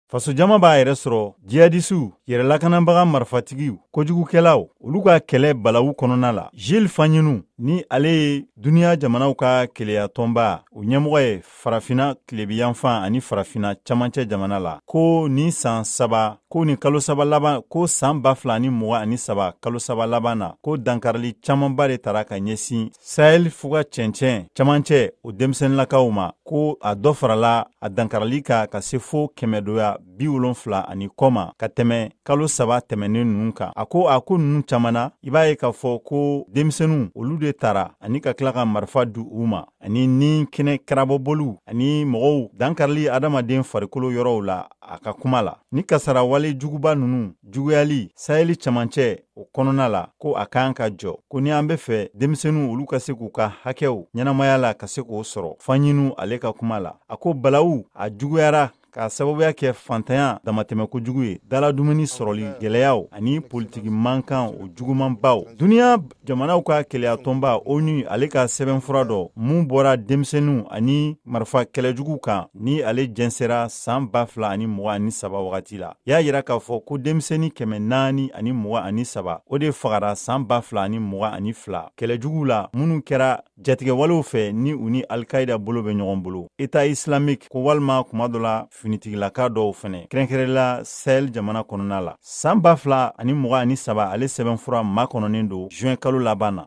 faso jama b'a yɛrɛ sɔrɔ jihadisiw yɛrɛ lakanabaga marifatigiw kojugukɛlaw olu ka kɛlɛ balawu kɔnɔna la gilles fagninou ni ale ye duniɲa jamanaw ka keleya tɔnba o ɲɛmɔgɔ ye farafina tilebinyanfan ani farafina camancɛ jamana la ko ni saan saba ko ni kalo saba laban ko saan ba fila ni muga ani saba kalo saba laban na ko dankarili caamanba de tara ka ɲɛsin sahɛli fuga cɛncɛn camancɛ o denmisɛnninlakaw ma ko a dɔ farala a dankarili ka ka se fo kɛmɛdoya bi wolonfila ani kɔ ma ka tɛmɛ kalo saba tɛmɛnen ninnu kan a ko a ko ninnu caman na i b'a ye k'a fɔ ko denmisɛnninw olu de tara ani ka tila ka marifa di u ma ani ni kɛnɛkaraba bɔliw ani mɔgɔw dankarili adamaden farikolo yɔrɔw la a ka kuma la ni kasarawale juguba ninnu juguyali sahɛli camancɛ o kɔnɔna la ko a kan ka jɔ ko ni an be fɛ denmisɛnninw olu ka se k'u ka hakɛw ɲɛnamaya la ka se k'o sɔrɔ fagninou ale ka kuma la a ko balawu a juguyara k'a sababuya kɛ fantanya damatɛmɛ kojugu ye dala dumuni sɔrɔli gwɛlɛyaw ani politiki mankan o jugumanbaw duniɲa jamanaw ka keleyatɔnba onu ale ka sɛbɛnfura dɔ mun bɔra denmisɛnninw ani marifa kɛlɛjugu kan ni ale jɛnsɛra saan ba fila ani mugan ani saba wagati la y'a yira k'a fɔ ko denmisɛni kɛmɛ naani ani mugan ani saba o de fagara saan ba fila ani mugan ani fila kɛlɛjuguw la minnu kɛra jatigɛwalew fɛ ni u ni alkaida bolo bɛ ɲɔgɔn bolo état islamique ko walima kuma dɔ la finitigilaka dɔw fɛnɛ kɛrɛnkɛrɛla sahel jamana kɔnɔna la saan ba fila ani mugan ani saba ale sɛbɛnfura makɔnɔnen don juin kalo laban na